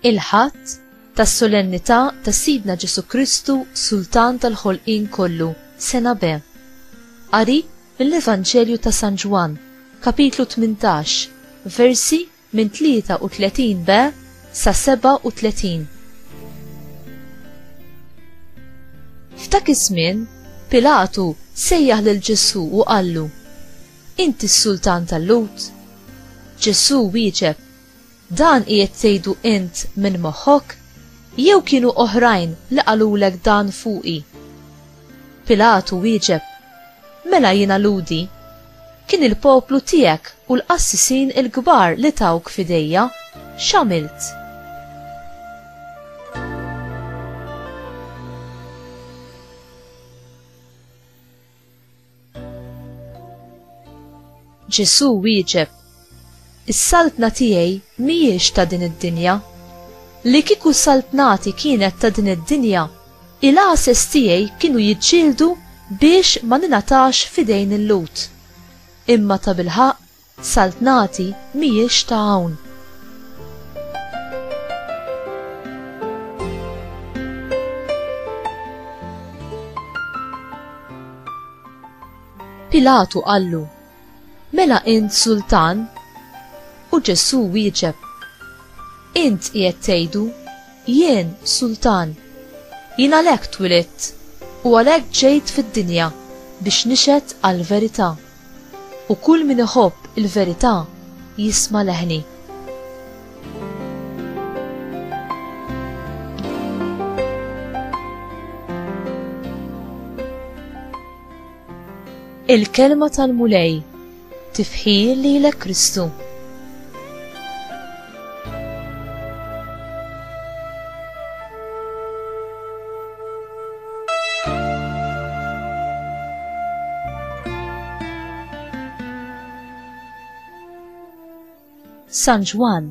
il-ħadd tas-solennità ta' Sidna Ġesu Kristu Sultan tal-ħolqien kollu, sena B. Qari mill-Evanġelju ta' San Ġwann, kapitlu 18, versi minn 33 be sa 37. F'dak iż-żmien, Pilatu sejjaħ lil Ġesù u qallu, Inti s-Sultan tal-Lhud? Ġesù wieġeb, Dan qiegħed tgħidu int minn moħħok? Jew kienu oħrajn li qalulek dan fuqi? Pilatu wieġeb, Mela jiena lhudi? Kien il-poplu tiegħek u l-qassisin il-kbar li tawk f'idejja. X'għamilt? Ġesù wieġeb, Is-saltna tiegħi mhijiex ta' din id-dinja. Li kieku saltnati kienet ta' din id-dinja, il-għases tiegħi kienu jiġġieldu biex ma ningħatax f'idejn il-Lhud. Imma tabilħaqq saltnati mhijiex ta' hawn. Pilatu qallu, Mela int sultan? U Ġesù wieġeb, Int qiegħed tgħidu, jien sultan. Jien għalhekk twilidt u għalhekk ġejt fid-dinja biex nixhed għall-verità. U kull min iħobb il-verità jisma' leħni. Il-Kelma tal-Mulej, Tifħir lilek Kristu. San Ġwan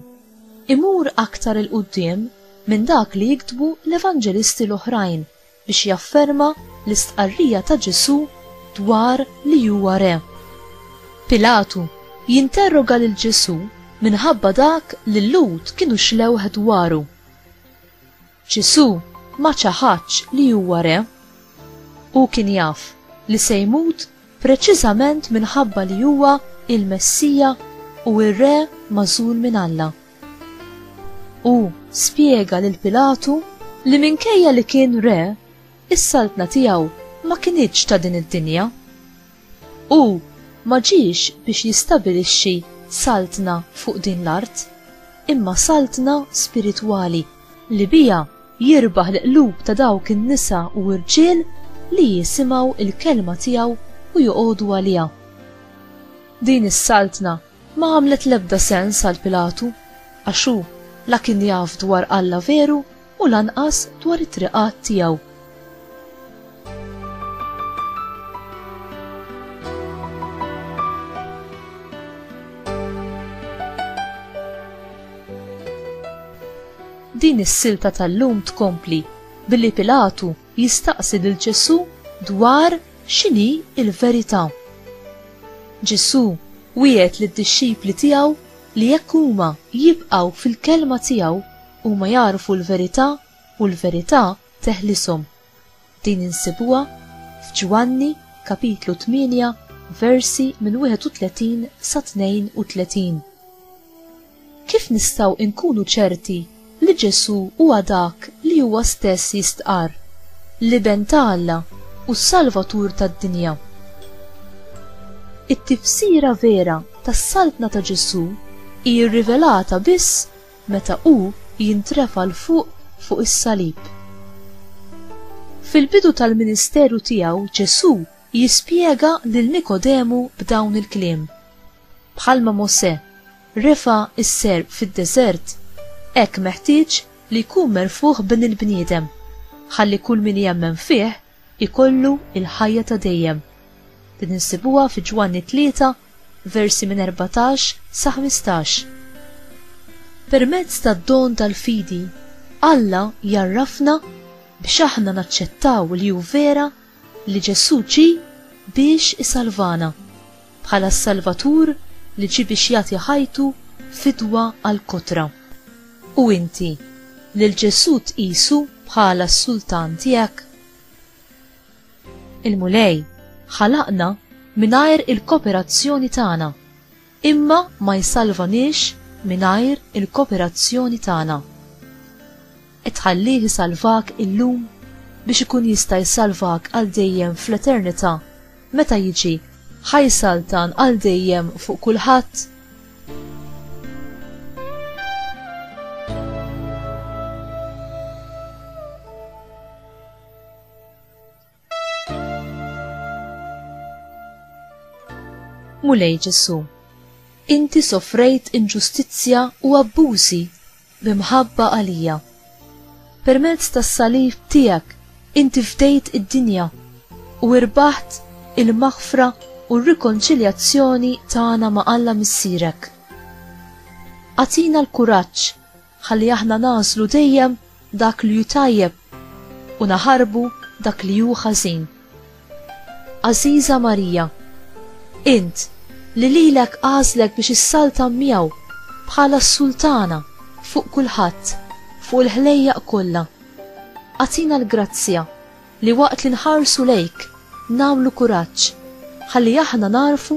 imur aktar il-qudiem minn dak li jiktbu l-Evanġelisti l-oħrajn biex jafferma l-istqarrija ta' Ġesù dwar li huwa re. Pilatu jinterroga lil Ġesù minħabba dak li l-Lhud kienu xlewh dwaru. Ġesù ma ċaħadx li huwa re. Hu kien jaf li se jmut preċiżament minħabba li huwa il-Messija u r-Re magħżul minn Alla. U spjega lil Pilatu li minkejja li kien re, is-saltna tiegħu ma kinitx ta' din id-dinja. Hu ma ġiex biex jistabilixxi saltna fuq din l-art, imma saltna spiritwali li biha jirbaħ l-qlub ta' dawk in-nisa u rġiel li jisimgħu l-kelma tiegħu u joqogħdu għaliha. Din is-saltna Ma għamlet l-ebda sens għal Pilatu, għax hu la kien jaf dwar Alla veru u lanqas dwar it-triqat tiegħu. din is-silta tal-lum tkompli billi Pilatu Jistaqsi lil Ġesù dwar x'inhi l-verità. Ġesù wiegħed lid-dixxipli tiegħu li jekk huma jibqgħu fil-kelma tiegħu, huma jagħrfu l-verità u l-verità teħlishom. Din insibuha f'Ġwanni, kapitlu 8, versi minn 31 sa 32. Kif nistgħu nkunu ċerti li Ġesù huwa dak li huwa stess jistqarr, l-Iben ta' Alla u s-Salvatur tad-dinja? It-tifsira vera tas-Saltna ta' Ġesù hi rrivelata biss meta hu jintrefa' 'l fuq fuq is-salib. Fil-bidu tal-ministeru tiegħu Ġesù jispjega lil Nikodemu b'dawn il-kliem, Bħalma Mosè refa' s-serp fid-deżert, hekk meħtieġ li jkun merfugħ Bin il-bniedem, ħalli kull min jemmen fih ikollu l-ħajja ta' dejjem. Din insibuha fi Ġwanni tlieta, versi minn erbatax sa ħmistax. Permezz tad-don tal-fidi, Alla jgħarrafna biex aħna naċċettaw li hu vera li Ġesù ġie biex isalvana, bħala s-Salvatur li ġie biex jagħti ħajtu fidwa għall-kotra. U inti, lil Ġesù tqisu bħala s-Sultan tiegħek? Il-Mulej ħalaqna mingħajr il-koperazzjoni tagħna. Imma ma jsalvaniex mingħajr il-koperazzjoni tagħna. Qed tħallih isalvak illum biex ikun jista' jsalvak għal dejjem fl-eternità meta jiġi ħa jsaltan għal dejjem fuq kulħadd? Mulej Ġesu, inti sofrejt inġustizzja u abbużi b'imħabba għalija. Permezz tas-salib tiegħek inti fdejt id-dinja u irbaħt il-maħfra u r-rikonċiljazzjoni tagħna ma' Alla Missierek. Atina l-kuraġġ Ħalli aħna nagħżlu dejjem dak li hu tajjeb u naħarbu dak li hu ħażin. Għażiża Marija, int li lilek għażlek biex issaltan miegħu bħala s-Sultana fuq kulħadd, fuq il-ħlejjaq kollha, agħtina l-grazzja li waqt li nħarsu lejk nagħmlu kuraġġ ħalli aħna nagħrfu